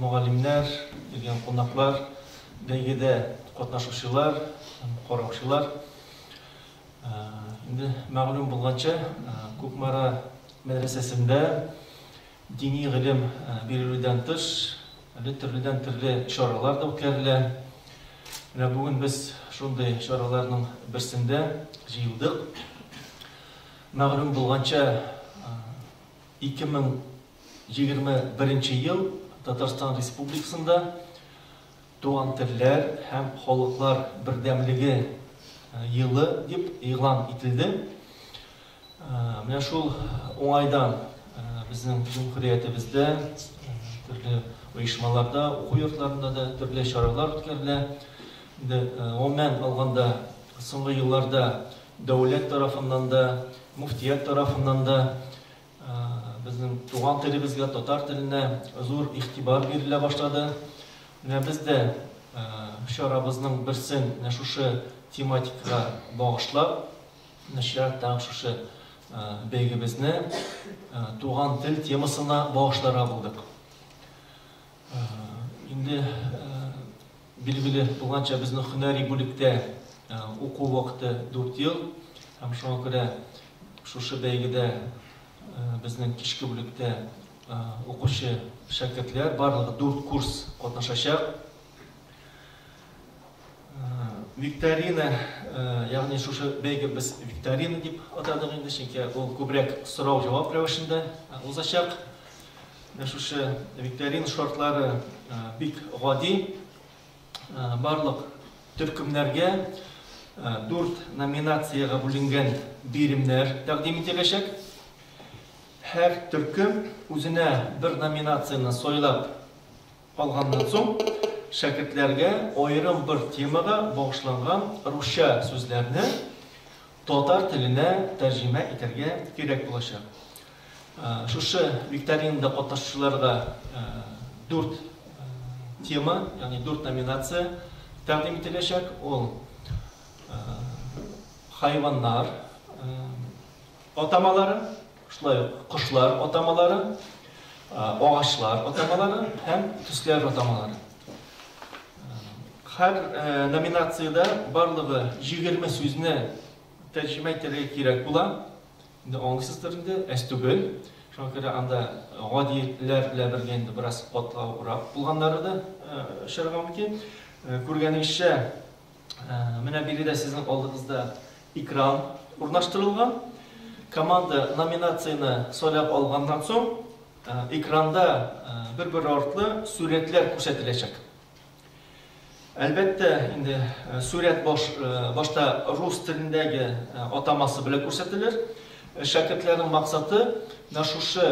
Мөгаллимнәр, килгән кунаклар, бәйгедә катнашучылар һәм караучылар! Инде мәгълүм булганча, Кукмара мәдрәсәсендә дини гыйлем бирелүдән тыш, әле төрледән-төрле чаралар да үткәрелә. Менә бүген без шундый чараларның берсендә җыелдык. Мәгълүм булганча, 2000 Егерме беренче ел Татарстан Республикасында Туган телләр һәм халыклар бердәмлеге елы дип игълан ителде. Менә шул уңайдан безнең Җөмһүриятебездә төрле оешмаларда, уку йортларында да төрле чаралар үткәрелә. Инде гомумән алганда, соңгы елларда дәүләт тарафыннан да, мөфтият тарафыннан да Безнең туган телебезгә, татар теленә зур игътибар бирелә башлады. Менә без дә чарабызның берсен менә шушы тематикага багышлап, нәшрият тагын шушы бәйгебезне туган тел темасына багышларга булдык. Инде Билгеле булганча, безнең һөнәри бүлектә уку вакыты дүрт ел. Һәм шуңа күрә шушы бәйгедә безнең кичке бүлектә укучы шәкертләр барлыгы дүрт курс катнашачак. Викторина, ягъни шушы бәйге без викторина дип атадык инде, чөнки ул күбрәк сорау-җавап рәвешендә узачак. Менә шушы викторина шартлары бик гади. Барлык төркемнәргә дүрт номинациягә бүленгән биремнәр тәкъдим ителәчәк. Һәр төркем үзенә бер номинацияне сайлап Алганнан соң, шәкертләргә аерым бер темага багышланган русча сүзләрне татар теленә тәрҗемә итәргә кирәк булачак. Шушы викторинада катнашучыларга дүрт тема, ягъни дүрт номинация тәкъдим ителәчәк, ул хайваннар атамалары, Шулай ук кошлар атамалары, агачлар атамалары һәм төсләр атамалары. Һәр номинациядә барлыгы 20 сүзне тәрҗемә итәргә кирәк була. Инде аңлыйсыздыр инде, әз түгел. Шуңа күрә анда гадиләр белән бергә инде бераз катлаурак булганнары да очарга мөмкин. Күргәнегезчә, Менә биредә сезнең алдыгызда экран урнаштырылган. Команда номинацияне сайлап алганнан соң, экранда бер-бер артлы сурәтләр күрсәтеләчәк. Әлбәттә, инде сурәт башта рус телендәге атамасы белән күрсәтелер. Шәкертләрнең максаты, менә шушы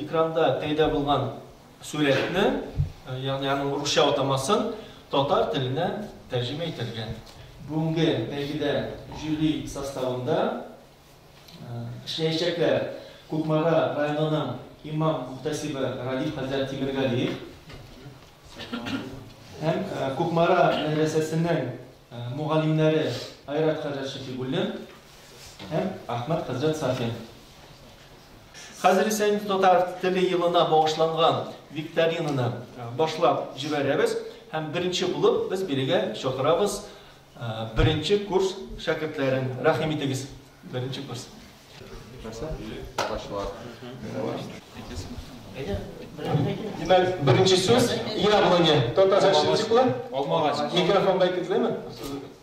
экранда пәйда булган Сурәтне, ягъни аның русча атамасын татар теленә тәрҗемә итәргә. Бүгенге бәйгедә жюри составында эшләячәкләр Кукмара районының имам-мөхтәсибе Радиф хәзрәт Тимергалиев һәм Кукмара мәдрәсәсенең мөгаллимнәре Айрат хәзрәт Шәфигуллин һәм Әхмәт хәзрәт Сафин. Хәзер исә инде татар теле елына багышланган викторинаны башлап җибәрәбез һәм беренче булып без бирегә чакырабыз беренче курс шәкертләрен. Рәхим итегез, беренче курс. Димәк, беренче сүз яблоня. Татарча ничек була? Алмагач. Микрофонга әйтегезләме?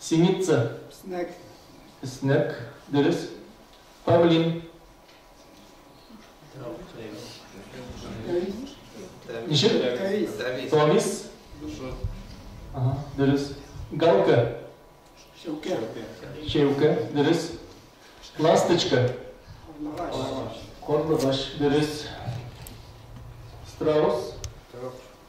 Синица. Снег. Снег, дөрес. Павлин. Ничек? Тавис. Ага, дөрес. Галка. Шәүкә. Шәүкә, дөрес. Ласточка. Корлыгач, дөрес. Страус.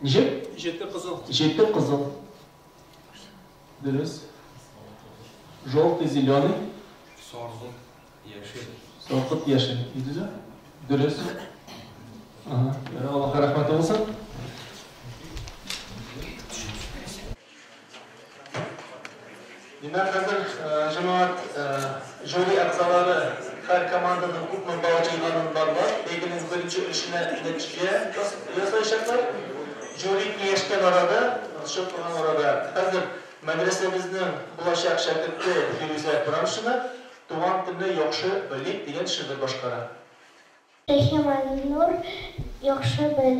Ничек? Җете кызыл. Җете кызыл. Дөрес. Желтый, зеленый. Саргылт, яшел. Саргылт, яшел. Идеже? Дөрес. Ага. Аллаһка рәхмәте булсын. Димәк, хәзер җәмәгать жюри әгъзалары һәр команданың күпме балл җыйганын барлап, бәйгенең беренче өлешенә нәтиҗә ясаячаклар. Жюри киңәшкән арада, узышып калган арада, хәзер мәдрәсәбезнең булачак шәкерте Фирүзә Брамшина Туган телне яхшы белик дигән шигырь башкара. Рәхим Алинур, яхшы бел,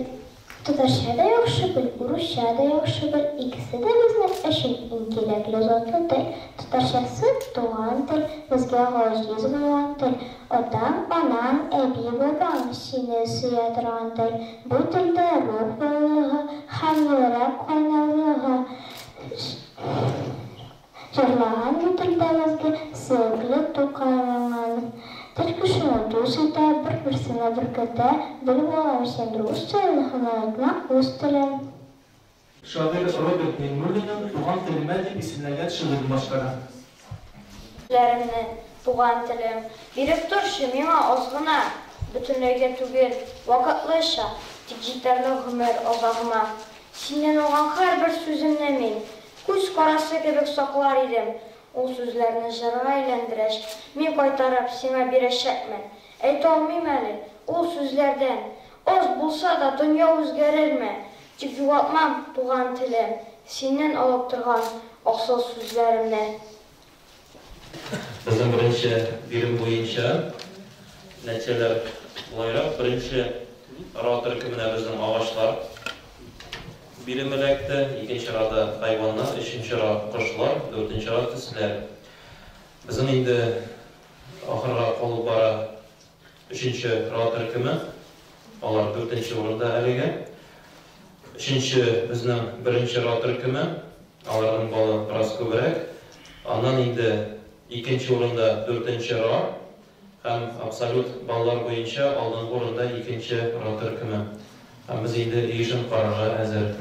татарча да яхшы бел, урысча да яхшы бел, икесе дә безнең өчен иң кирәкле затлы тел. Татарчасы, туган тел, безгә газиз булган тел. Атаң, анаң, әби, бабаң сине сөя торган тел. Бу телдә рух байлыгы һәм йөрәк кайнарлыгы. Җырлаган җителдәгезге сөекле Тукаеңан. Тел кешене дус итә, бер-берсенә беркетә, бел бала өчен рус телен һынайтма, үз телен. Шагыйрь Роберт Миңнуллинның Туган телемә дип исемләгән шигырен башкара. Ләремне, туган телем, биреп торчы миңа аз гына, бөтенләйгә түгел, вакытлыча, тик җитәрлек гомер азагыма. Синнән алган һәрбер сүземне мин, Күз карасы кебек саклар идем ул сүзләрне җырга әйләндерәч, мин кайтарып сиңа бирәчәкмен. Әйтә алмыйм әле, ул сүзләрдән аз булса да дөнья үзгәрерме, тик югалтмам туган телем, синнән алып торган асыл сүзләремне. Безнең беренче бирем буенча нәтиҗәләр болайрак, беренче ара төркеменә безнең агачлар биреме эләкте, икенче арада хайваннар, өченче ара кошлар, дүртенче ара төсләр. Безнең инде ахырга калып бара. Өченче Рау төркеме, алар дүртенче урында әлегә. Өченче безнең беренче Рау төркеме, аларның балы бераз күбрәк. Аннан инде икенче урында дүртенче Ра һәм абсолют баллар буенча алдынгы урында икенче Ра төркеме. Ә без инде өй эшен карарга әзер.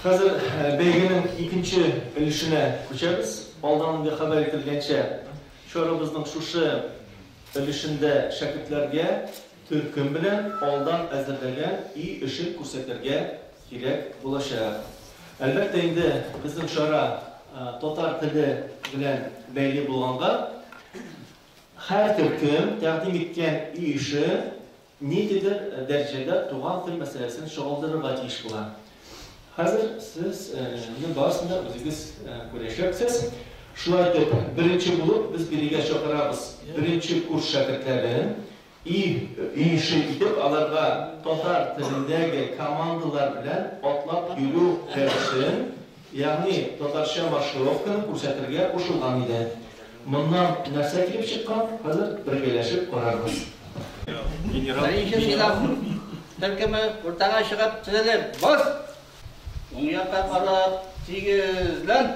Хәзер бәйгенең икенче өлешенә күчәбез. Алдан инде хәбәр ителгәнчә, чарабызның шушы өлешендә шәкертләргә төркем белән алдан әзерләгән өй эшен күрсәтергә кирәк булачак. Әлбәттә инде безнең чара татар теле белән бәйле булганга, Һәр төркем тәкъдим иткән өй эше ниндидер дәрәҗәдә туган тел мәсьәләсен чагылдырырга тиеш була. Хәзер сез моның барысын да үзегез күрәчәксез. Шулай итеп, беренче булып без бирегә чакырабыз беренче курс шәкертләрен. Ир иеше итеп аларга татар телендәге командалар белән атлап йөрү рәвешен, ягъни татарча маршировканы күрсәтергә кушылган иде. Моннан нәрсә килеп чыккан, хәзер бергәләшеп карарбыз. Беренче сыйныф төркеме уртага чыгып тезелеп, бас! Уң якка карап, тигезлән!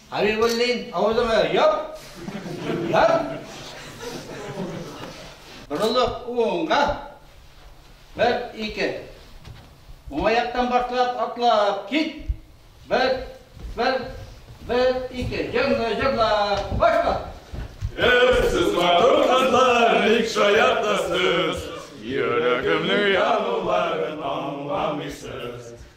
Хәбибуллин, авызыңа яп! Яп! Борылып уңга! Бер, ике. Уңа яктан башлап, атлап кит! Бер, бер, бер, ике. Җырны җырлап, башла! Эх, сез матур кызлар, ник шаяртасыз? Йөрәгемнең януларын аңламыйсыз.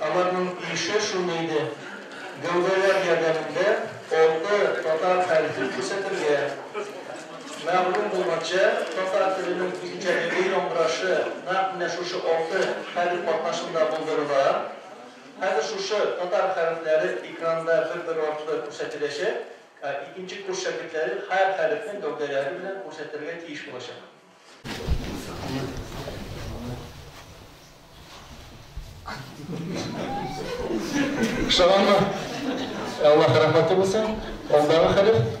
Аларның ише шундый иде, гәүдәләр ярдәмендә алты татар хәрефен күрсәтергә, мәгълүм булганча, татар теленең үзенчәлеге, яңгырашы нәкъ менә шушы алты хәреф катнашында булдырыла. Хәзер шушы татар хәрефләре экранда бер-бер артлы күрсәтеләчәк, ә икенче курс шәкертләре һәр хәрефне гәүдәләре белән күрсәтергә тиеш булачак. Ошаганмы? Аллаһ рәхмәте булсын. Алдагы хәлиф.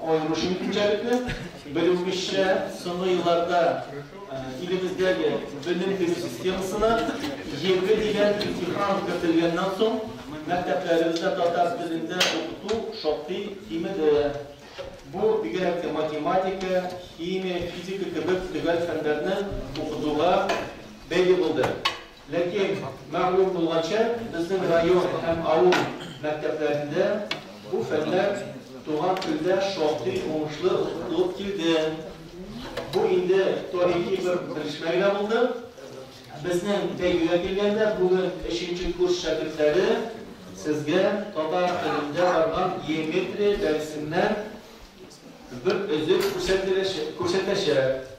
аеруча игелекле. Белүебезчә, соңгы елларда илебездәге белем бирү системасына җирле дигән имтихан кертелгәннән соң, мәктәпләребездә татар телендә укыту шактый кимеде. Бу, бигрәк тә математика, химия, физика кебек төгәл фәннәрне укытуга бәйле булды. Ләкин, мәгълүм булганча, безнең район һәм авыл мәктәпләрендә бу фәннәр туган телдә шактый уңышлы укытылып килде. Бу инде тарихи бер белешмә генә булды. Безнең бәйгегә килгәндә, бүген өченче курс шәкертләре сезгә татар телендә барган геометрия дәресеннән бер өзек күрсәтәчәк.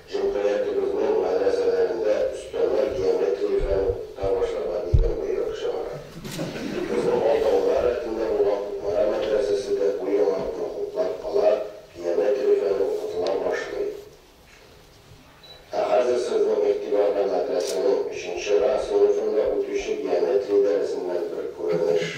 Җөмгыятебезнең мәдрәсәләрендә өстәмә геометриягә укыта башларга дигән боерык чыгара. Безнең Алтаулар рәтендә булган Кукмара мәдрәсәсе дә бу яңалыкны хуплап кала, геометриягә укытыла башлый. Ә хәзер сезнең игътибарга мәдрәсәнең өченче ра сыйныфында үтүче геометрия дәресеннән бер күренеш.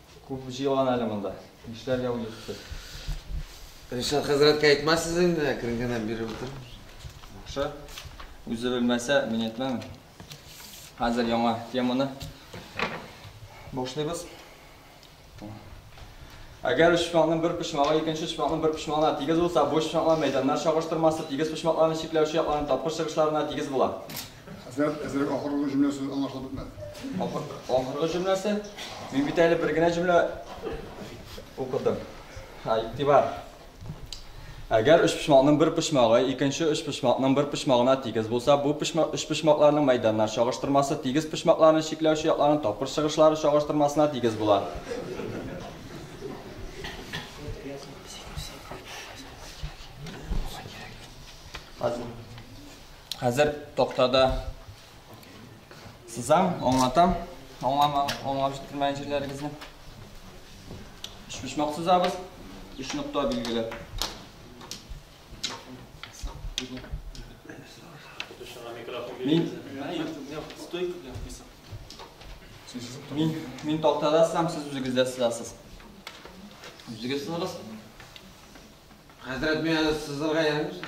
Күп җыелган әле монда. Нишләргә уйлыйсыз? Ришат хәзрәткә әйтмәссез инде, әкрен генә биреп утыр. Яхшы. Үзе белмәсә, мин әйтмәм. Хәзер яңа теманы башлыйбыз. Әгәр өч почмакның бер почмагы икенче почмакның бер почмагына тигез булса, бу өч почмаклар мәйданнар чагыштырмасы тигез почмакларны чикләүче якларның тапкыр чыгышларына тигез була. Хәзрәт, әзрәк ахыргы җөмлә сүз аңлашылып бетмәде. Ахыргы җөмләсе? Мин бит әле бер генә җөмлә укыдым. Ха, игътибар. Әгәр өчпочмакның бер почмагы икенче өчпочмакның бер почмагына тигез булса, бу өчпочмакларның мәйданнар чагыштырмасы тигез почмакларны чикләүче якларның тапкыр чыгышлары чагыштырмасына тигез була. Азмы? Хәзер токтада сызам, аңлатам. Аңлап җиткермәгән җирләрегезне. Өчпочмак сызабыз. Өч нокта билгеләп. Мин Мин, мин тактада сызам, сез үзегездә сызасыз. Үзегез сызыгыз. Хәзрәт, мин әле сызырга ярамыйсың.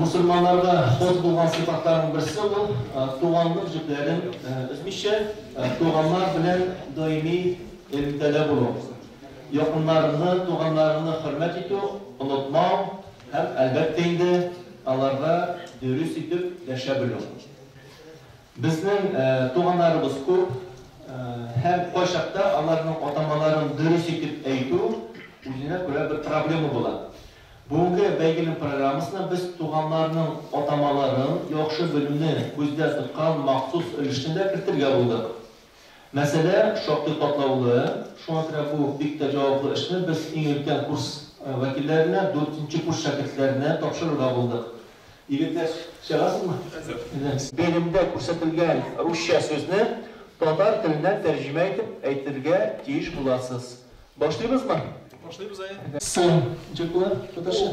Мусульманнарда ход булган сыйфатларның берсе ул туганлык җепләрен өзмичә, туганнар белән даими элемтәдә булу. Якыннарыңны, туганнарыңны хөрмәт итү, онытмау һәм, әлбәттә инде, аларга дөрес итеп дәшә белү. Безнең туганнарыбыз күп һәм кайчакта аларның атамаларын дөрес итеп әйтү үзенә күрә бер проблема була. Бүгенге бәйгенең программасына без туганнарның атамаларын яхшы белүне күздә тоткан махсус өлешне дә кертергә булдык. Мәсьәлә шактый катлаулы, шуңа күрә бу бик тә җаваплы эшне без иң өлкән курс вәкилләренә, дүртенче курс шәкертләренә тапшырырга булдык. Егетләр, чыгасызмы? Әзер. Белемдә күрсәтелгән русча сүзне татар теленә тәрҗемә итеп әйтергә тиеш буласыз. Башлыйбызмы? Башлыйбыз, әйе. Сәлам, ничек була татарча?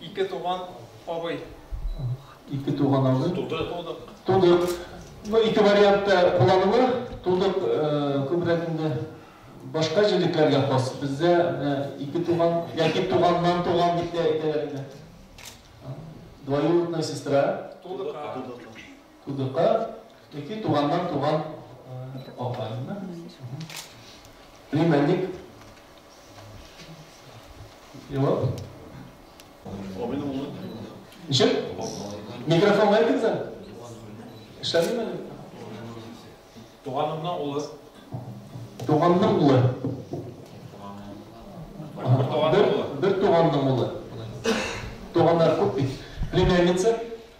Ике туган абый. Ике туган абый. Тудык. Тудык. Тудык. Ну, ике вариантта кулланылыр. Тудык күбрәк инде башка җилекләргә хас. Бездә ике туган, яки туганнан туган дип тә әйтәләр инде. Двоюродная сестра. Тудык. Кудыкка ике туганнан туган апаймы? Племянник. Җавап. Абыйның улы. Ничек? Микрофон бар икән сән? Эшләмиме әле? Туганымның улы. Туганның улы. Бер туганның улы. Туганнар күп бит. Племянница.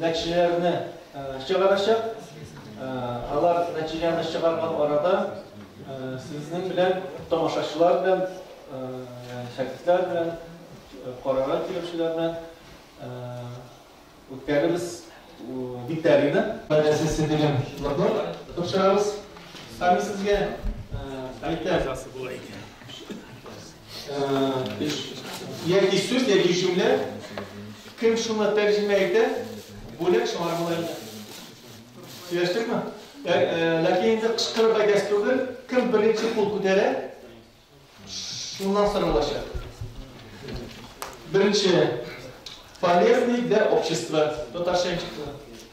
нәтиҗәләрне чыгарачак. Алар нәтиҗәне чыгарган арада сезнең белән тамашачылар белән, шәкертләр белән, карарга килүчеләр белән үткәребез викторина. Сесия дигән лоток тапшырабыз. Һәм сезгә әйтә. Яки сүз, яки җөмлә. Кем шуны тәрҗемә итә? Бүләк шулар була инде. Сөйләштекме? Ләкин инде кычкырып әйтәсе түгел. Кем беренче кул күтәрә? Шуннан соралачак. Беренче полезный для общества. Татарча ничек була?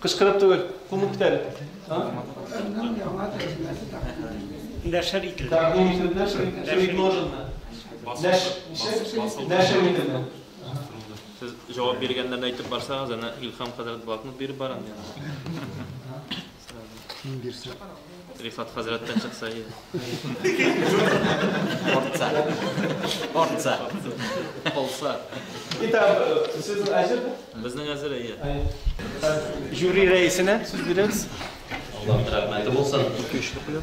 Кычкырып түгел, кумып бит әле. Нәшер ителде. Тәкъдим ителде, предложено. Нәшер ителде. Сез җавап биргәннәрне әйтеп барсагыз, әнә Илһам хәзрәт блокнот биреп барам. Ким бирсә. Рифат хәзрәттән чыкса иде. Ортса. Ортса. Полса. Итак, сүз әзер? Безнең әзер, әйе. Жюри рәисенә сүз бирәбез. Аллаһ рәхмәте булсын. Ике-өч тапкыр.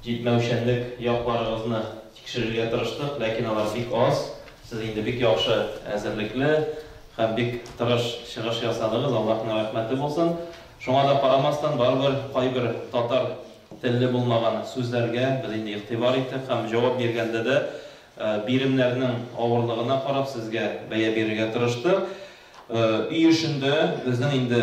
Җитмәүчәнлек якларыгызны тикшерергә тырыштык, ләкин алар бик аз. Сез инде бик яхшы әзерлекле һәм бик тырыш чыгыш ясадыгыз, Аллаһның рәхмәте булсын. Шуңа да карамастан, барыбер кайбер татар телле булмаган сүзләргә без инде игътибар иттек һәм җавап биргәндә дә биремнәрнең авырлыгына карап сезгә бәя бирергә тырыштык. Өй эшендә безнең инде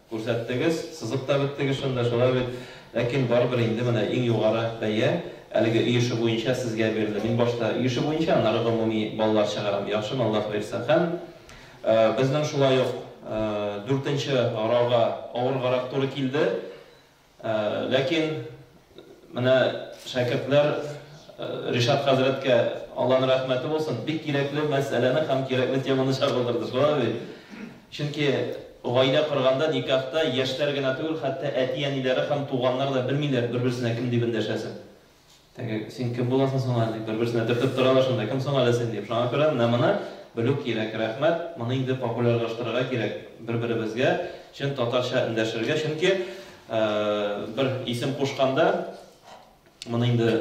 Күрсәттегез, сызып та беттегез шунда, шулай бит? Ләкин барыбер инде менә иң югары бәя әлеге өй эше буенча сезгә бирелде. Мин башта өй эше буенча, аннары гомуми балалар чыгарам, яхшымы, Аллаһ боерса. Һәм безнең шулай ук дүртенче грауга авыргарак туры килде. Ләкин менә шәкертләр Ришат хәзрәткә Алланың рәхмәте булсын, бик кирәкле мәсьәләне һәм кирәкле теманы чагылдырды, шулай бит? Чөнки гаилә корганда, никахта яшьләр генә түгел, хәтта әти-әниләре һәм туганнар да белмиләр бер-берсенә кем дип эндәшәсен. Теге, син кем буласың соң әле, дип, бер-берсенә төртеп торалар шунда, кем соң әле син, дип. Шуңа күрә менә моны белү кирәк, рәхмәт. Моны инде популярлаштырырга кирәк бер-беребезгә чын татарча эндәшергә, чөнки бер исем кушканда, моны инде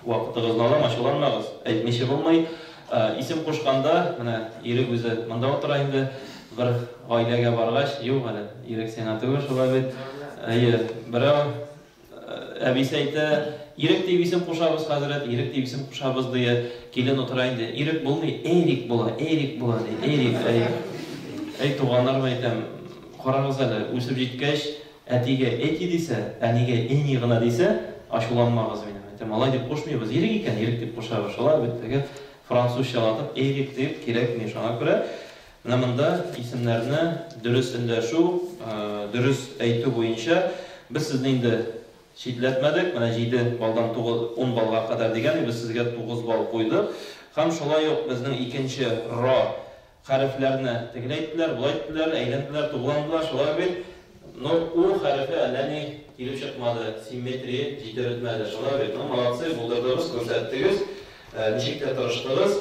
вакытыгызны алам, ачуланмагыз, әйтмичә булмый, исем кушканда, менә Ирек үзе монда утыра инде, бер гаиләгә баргач, юк әле, Ирек сиңа түгел шулай бит, әйе, берәү, Әбисе әйтә, Ирек дип исем кушабыз, хәзрәт, Ирек дип исем кушабыз, ди. Килен утыра инде. Ирек булмый, Эрик була, Эрик була, ди. Эрик, әй. Әй, туганнарым, әйтәм, карагыз әле, үсеп җиткәч, әтигә Эти дисә, әнигә Эни гына дисә, ачуланмагыз мине. Әйтәм, алай дип кушмыйбыз. Ирек икән, Ирек дип кушабыз. Шулай бит, теге французчалатып Эрик дип кирәкми. Шуңа күрә Менә монда исемнәрне дөрес эндәшү, дөрес әйтү буенча без сезне инде читләтмәдек, менә җиде баллдан тугыз, ун баллга кадәр дигән идек, без сезгә тугыз балл куйдык. Һәм шулай ук безнең икенче ра хәрефләрне тегеләйттеләр, болайтделәр, әйләнделәр, тугландылар, шулай бит? Ну, у хәрефе әллә ни килеп чыкмады, симметрия җитерелмәде, шулай бит? Ну, молодцы, булдырдыгыз, күрсәттегез, ничек тә тырыштыгыз.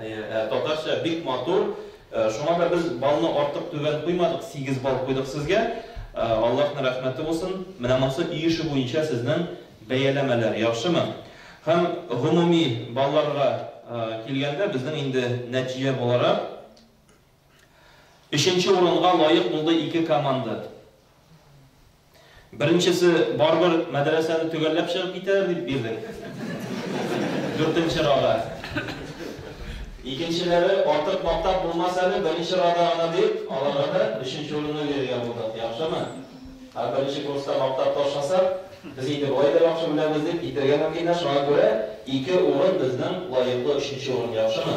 Әйе, ә татарча бик матур. Шуңа да без балны артык түбән куймадык, сигез бал куйдык сезгә. Аллаһның рәхмәте булсын. Менә монысы өй эше буенча сезнең бәяләмәләр, яхшымы? Һәм гомуми балларга килгәндә, безнең инде нәтиҗә буларак, Өченче урынга лаек булды ике команда. Беренчесе, Барыбер мәдрәсәне төгәлләп чыгып китәләр дип бирдек. Дүртенче рага. Икенчеләре, Артык мактап булмас әле, беренче рада гына дип, аларга да өченче урынны бирергә булдык. Яхшымы? Ә беренче курста мактап ташласак, без инде болай да яхшы беләбез дип китәргә мөмкиннәр, шуңа күрә ике урын безнең лаеклы өченче урын. Яхшымы?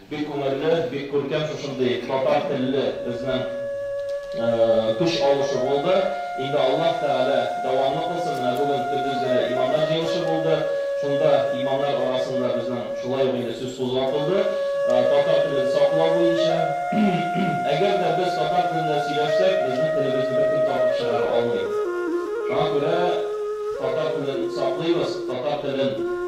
Бик күңелле, бик күркәм шушындый татар телле безнең көч алышу булды. Инде Аллаһ Тәгалә дәвамлы кылсын, менә бүген көндез генә имамнар җыелышы булды. Шунда имамнар арасында безнең шулай ук инде сүз кузгатылды, татар телен саклау буенча. Әгәр дә без татар телендә сөйләшсәк, безнең телебезне беркем тартып чыгара алмый. Шуңа күрә татар телен саклыйбыз, татар телен.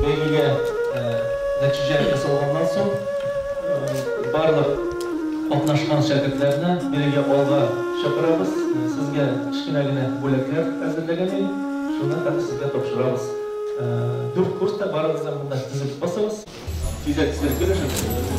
Бәйгегә нәтиҗә ясалганнан соң, барлык катнашкан шәкертләрне бәйгегә алга чакырабыз. Сезгә кечкенә генә бүләкләр әзерләгән идек, шуны хәзер сезгә тапшырабыз. Дүрт курс та, барыгыз да монда тезелеп басыгыз. Тизрәк, тизрәк бирегез шәкертләргә.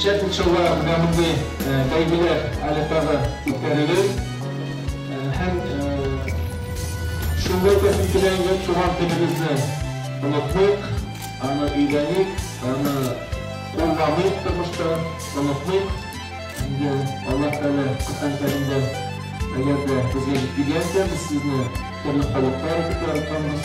Шәп учылар менә мондый бәйгеләр әле тагы үткәрелер. Һәм шуны әйтәсем килә инде, туган телебезне онытмыйк, аны өйрәник, аны кулланыйк тормышта, онытмыйк. Инде Аллаһ Тәгалә Коръән Кәримдә, әгәр дә безгә җиткергәнсә, без сезне төрле халыклар итеп яратканбыз.